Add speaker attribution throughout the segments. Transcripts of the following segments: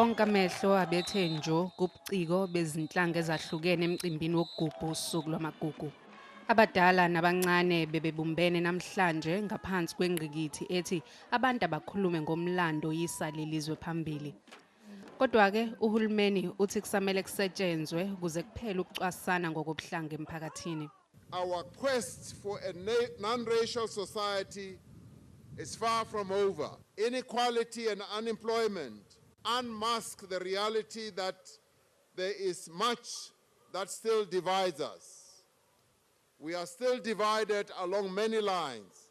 Speaker 1: Onke amehlo abethe njo kubuciko bezinhlanga ezahlukene emcimbini wokugubha usuku lwamagugu. Abadala nabancane bebebumbene namhlanje ngaphansi kwengqikithi ethi abantu abakhulume ngomlando yisa lelizwe phambili. Kodwa-ke uhulumeni uthi kusamele kusetshenzwe kuze kuphele ukucwasana ngokobuhlanga emphakathini. Our
Speaker 2: quest for a non-racial society is far from over. Inequality and unemployment unmask the reality that there is much that still divides us. We are still divided along many lines,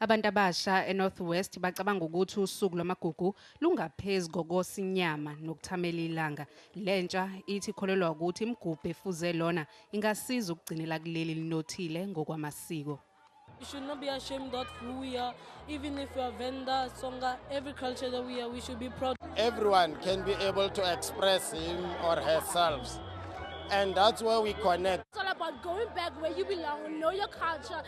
Speaker 2: Abantu abasha
Speaker 1: eNorth West bacabanga ukuthi usuku lwamagugu lungaphezu kokosinyama nokuthamela ilanga. Lentsha ithi kholelwa ukuthi imigubho efuze lona ingasiza ukugcinela kuleli linothile ngokwamasiko. We should not
Speaker 3: be ashamed of who we are, even if we are Venda, Songa, every culture that we are, we should be proud. Everyone can be
Speaker 4: able to express him or herself. And that's where we connect. It's all about going
Speaker 5: back where you belong, know your culture.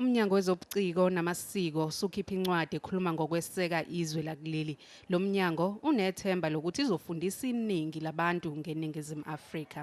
Speaker 2: Umnyango
Speaker 1: wezobuciko namasiko usukhipha incwadi ekhuluma ngokweseka izwe lakuleli. Lo mnyango unethemba lokuthi izofundisa iningi labantu ngeNingizimu Afrika.